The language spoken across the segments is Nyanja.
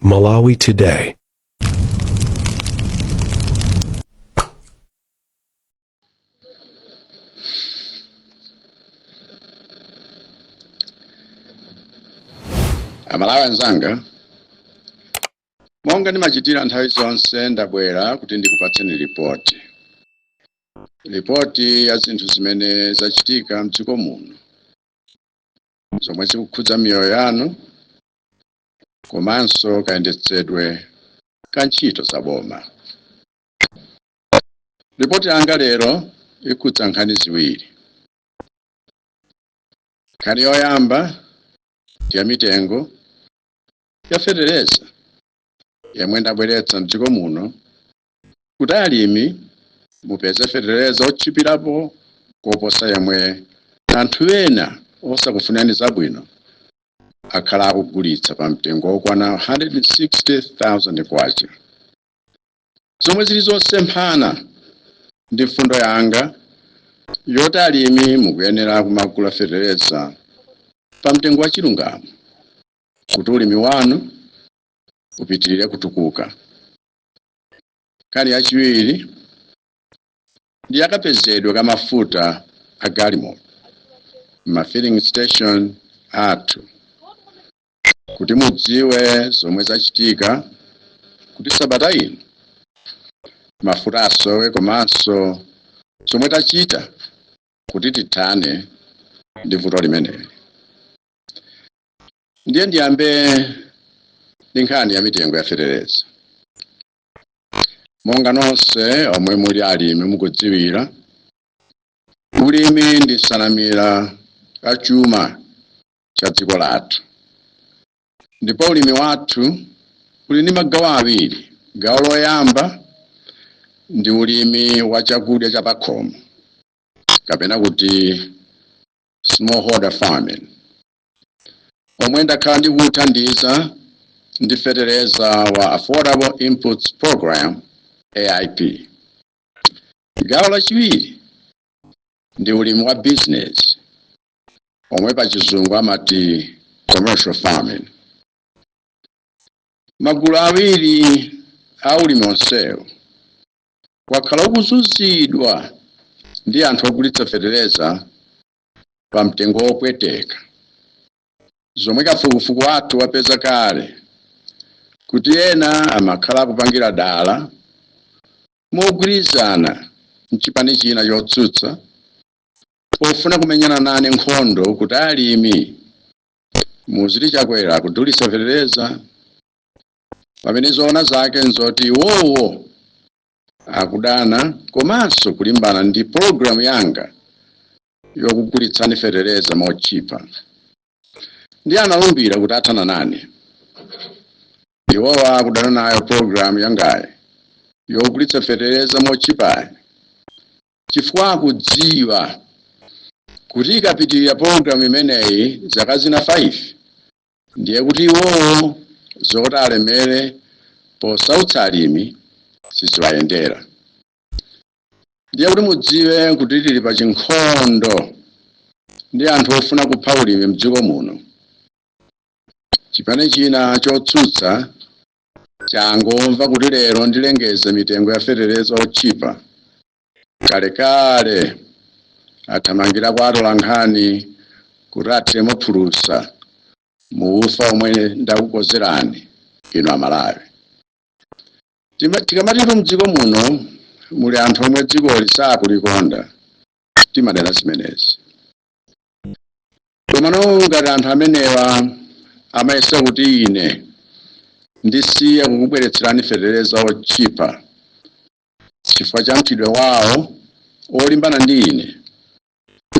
Malawi Today. amalawi anzanga monga ndimachitira nthawi zonse ndabwera kuti ndikupatseni ripoti ripoti ya zinthu zimene zachitika mdziko muno zomwe zikukhudza miyoyo yanu komanso kayendetsedwe ka ntchito za boma. Ripoti yanga lero ikhudza nkhani ziwiri. Nkhani yoyamba ndi ya mitengo ya fetereza yemwe ndabweretsa mdziko muno kuti alimi mupeze fetereza otchipilapo koposa yemwe anthu ena osakufunirani zabwino akhala akugulitsa pa mtengo wokwana K160,000, zomwe zili zosemphana ndi mfundo yanga yoti alimi mukuyenera kumagula fetereza pa mtengo wa chilungamo kuti ulimi wanu upitilire kutukuka. Nkhani yachiwiri ndi yakapezedwe ka mafuta a galimoto m'mafilling station athu kuti mudziwe zomwe zachitika kuti sabata ino mafuta asowe komanso zomwe tachita kuti tithane ndi vuto limeneli. ndiye ndiyambe ndi nkhani ya mitengo ya fetereza monga nonse omwe muli alimi mukudziwira ulimi ndi nsanamira ya chuma cha dziko lathu ndipo ulimi wathu uli ndi magawo awiri gawo loyamba ndi ulimi wa chakudya cha pakhomo kapena kuti smallholder farming, omwe ndakhala ndikuthandiza ndi feteleza wa Affordable Inputs Programme, AIP. Gawo lachiwiri ndi ulimi wa bizinesi omwe pa chizungu amati commercial farming. Magulu awiri a ulimi onsewo wakhala ukuzunzidwa ndi anthu ogulitsa fetereza pa mtengo wopweteka. Zomwe kafukufuku wathu wapeza kale kuti ena amakhala akupangira dala mogwirizana nchipani china chotsutsa pofuna kumenyana nane nkhondo kuti alimi muziti Chakwera akudulitsa fetereza pamene zoona zake nzoti iwowo akudana komanso kulimbana ndi pologalamu yanga yokugulitsani fetereza motchipa ndiye analumbira kuti athana nane iwowa akudana nayo pologalamu yangayi yogulitsa fetereza motchipayi chifukwa akudziwa kuti ikapitirira pologalamu imeneyi zaka zina 5 Ndiye kuti iwowo zoti alemere posautsa alimi siziwayendera. Ndiye kuti mudziwe kuti tili pa chinkhondo ndi anthu ofuna kupha ulimi mdziko muno. Chipani china chotsutsa changomva kuti lero ndilengeze mitengo ya fetereza otchipa kalekale athamangira kwa atolankhani kuti athiremo phulusa mu ufa omwe ndakukozerani inu amalawi tikamatitu mdziko muno muli anthu omwe dzikoli sakulikonda timanena zimenezi komano ngati anthu amenewa amayesa kuti ine ndisiye kukubweretserani fetereza otchipa chifukwa cha mchitidwe wawo olimbana ndi ine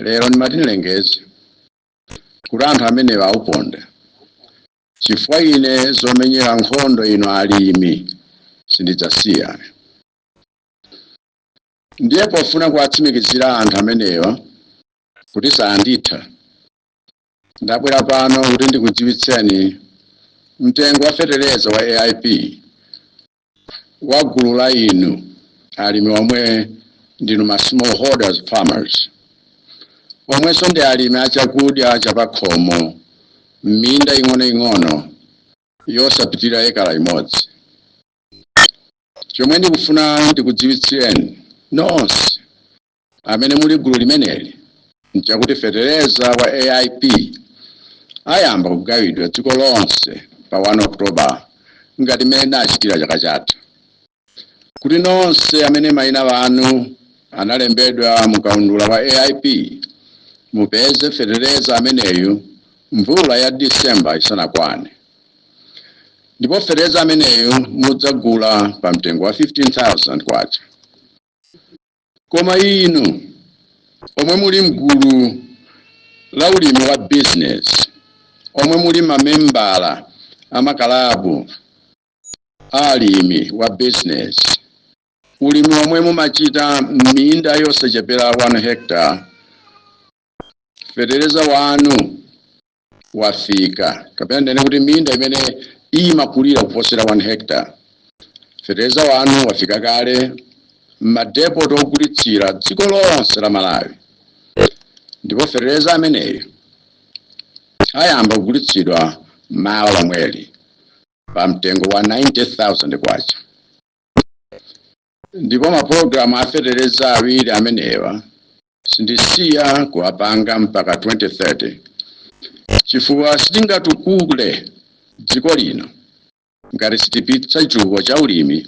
lero ndimati ndilengeze kuti anthu amenewa auponda chifukwa ine zomenyera nkhondo inu alimi sindidzasiya ndiye pofuna kuwatsimikizira anthu amenewa kuti sanditha ndabwera pano kuti ndikudziwitseni mtengo wa fetereza wa aip wa gulu la inu alimi omwe ndinu ma smallholders farmers omwenso ndi alimi a chakudya chapakhomo m'minda ing'onoing'ono yosapitira ekala imodzi chomwe ndikufuna ndikudziwitsireni nonse amene muli gulu limeneli nchakuti fetereza wa AIP ayamba kugawidwa dziko lonse pa 1 October ngati mmene tinachitira chaka chatha kuti nonse amene mayina anu analembedwa mu kaundula wa AIP mupeze fetereza ameneyu mvula ya December isanakwane ndipo fetereza ameneyu mudzagula pa mtengo wa 15,000 kwacha Koma inu omwe muli mgulu la ulimi wa bizinesi, omwe muli mamembala a makalabu a alimi wa bizinesi, ulimi omwe mumachita m'minda yosachepera 1 hectare, feteleza wanu wafika kapena ndinene kuti minda imene imakulira kuposera 1 hectare fertilizer wanu wafika kale m'madepoti ogulitsira dziko lonse la malawi ndipo fertilizer ameneyo ayamba kugulitsidwa mawa lomweli pa mtengo wa 90000 kwacha Ndipo mapulogalamu a feteleza awiri amenewa sindisiya kuwapanga mpaka 2030 chifukwa sitingatukule dziko lino ngati sitipitsa chitukuko cha ulimi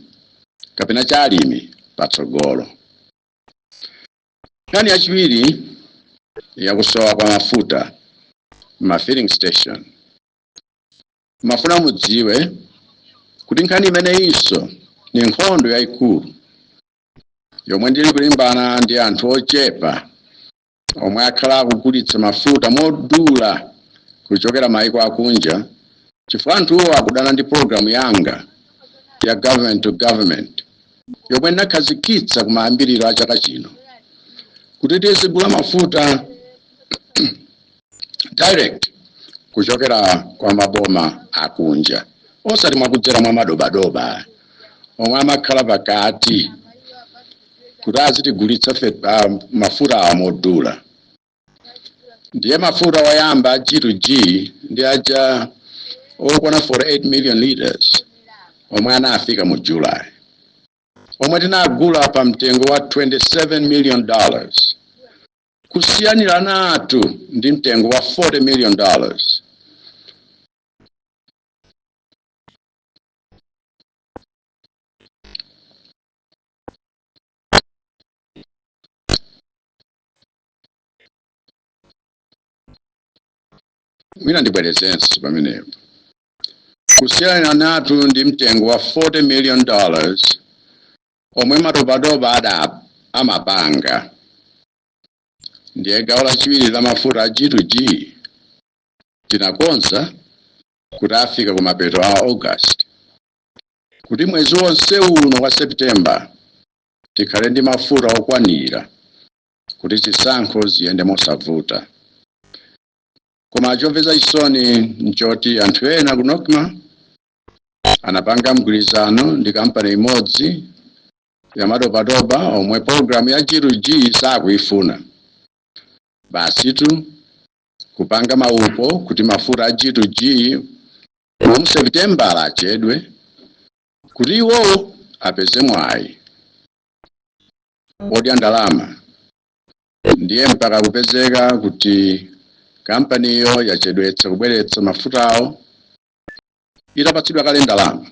kapena cha alimi patsogolo. Nkhani yachiwiri ya kusowa kwa mafuta mma filling station. Ndimafuna mudziwe kuti nkhani imeneyinso ndi nkhondo yaikulu yomwe ndili kulimbana ndi anthu ochepa omwe akhala akugulitsa mafuta modula kuchokera maiko akunja chifukwa anthuwo akudana ndi pulogalamu yanga ya government to government yomwe ndinakhazikitsa kumayambiriro a chaka chino kuti tizigula mafuta direct kuchokera kwa maboma akunja osati mwakudzera mwa madobadoba omwe amakhala pakati kuti azitigulitsa fe ah, mafuta awa modula ndiye mafuta oyamba a g2g ndi aja okwana 48 million liters omwe anafika mu july omwe tinagula pa mtengo wa 27 million dollars kusiyaniranatu ndi mtengo wa 40 million dollars mwina ndibwerezenso pamenepo kusiyaniranatu ndi mtengo wa 40 million dollars omwe madobadoba amapanga. Ndiye gawo lachiwiri la mafuta a G to G tinakonza kuti afika ku mapeto a August kuti mwezi wonse uno wa September tikhale ndi mafuta okwanira kuti zisankho ziyende mosavuta. Koma chomvetsa chisoni nchoti anthu ena ku Nocma anapanga mgwirizano ndi kampani imodzi ya madobadoba omwe pologalamu ya G to G sakuifuna basitu kupanga maupo kuti mafuta a G to G mu sepitembala achedwe kuti iwo apeze mwayi odya ndalama ndiye mpaka kupezeka kuti kampaniyo yachedwetsa kubweretsa mafutawo itapatsidwa kale ndalama.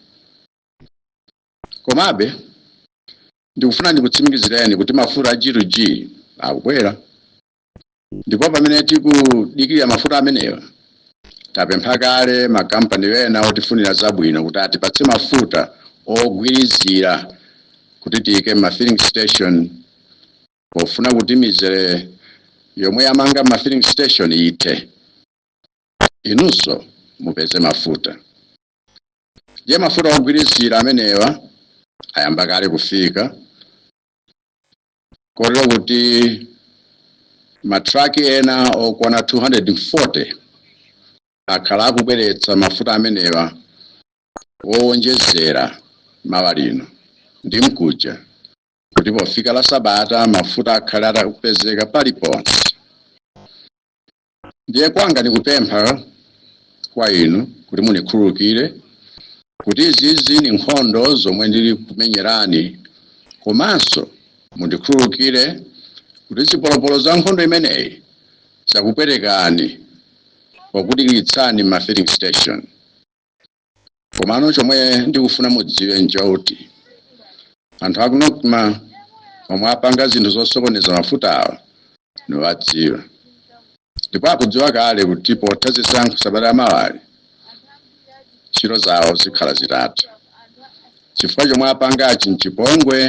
Komabe, ndikufuna ndikutsimikizireni kuti mafuta a G to G akubwera. Ndipo pamene tikudikirira mafuta amenewa, tapempha kale makampani ena otifunira zabwino kuti atipatse mafuta ogwirizira kuti tiike m'ma filling station pofuna kuti mizere yomwe yamanga m'ma filling station ithe. inunso mupeze mafuta. Ndiye mafuta ogwirizira amenewa ayamba kale kufika kotero kuti matraki ena okwana 240 akhala akubweretsa mafuta amenewa owonjezera mawa lino ndi mkuja kuti pofika la sabata mafuta akhale atakupezeka paliponse Ndiye kwanga nikupempha kwa inu kuti munikhululukire kuti izizi ni nkhondo zomwe ndili kumenyerani, komanso mundikhululukire kuti zipolopolo za nkhondo imeneyi zakupwetekani pokudikiritsani m'ma filling station. komano chomwe ndikufuna mudziwe nchoti anthu aku nocma omwe apanga zinthu zosokoneza mafuta awa niwadziwa ndipo akudziwa kale kuti potha zisankho sabata yamawayi ntchito zawo zikhala zitatha chifukwa chomwe apangachi nchipongwe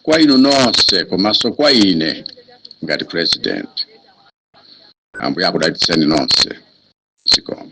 kwa inu nonse komanso kwa ine ngati president ambuye akudalitseni nonse zikomo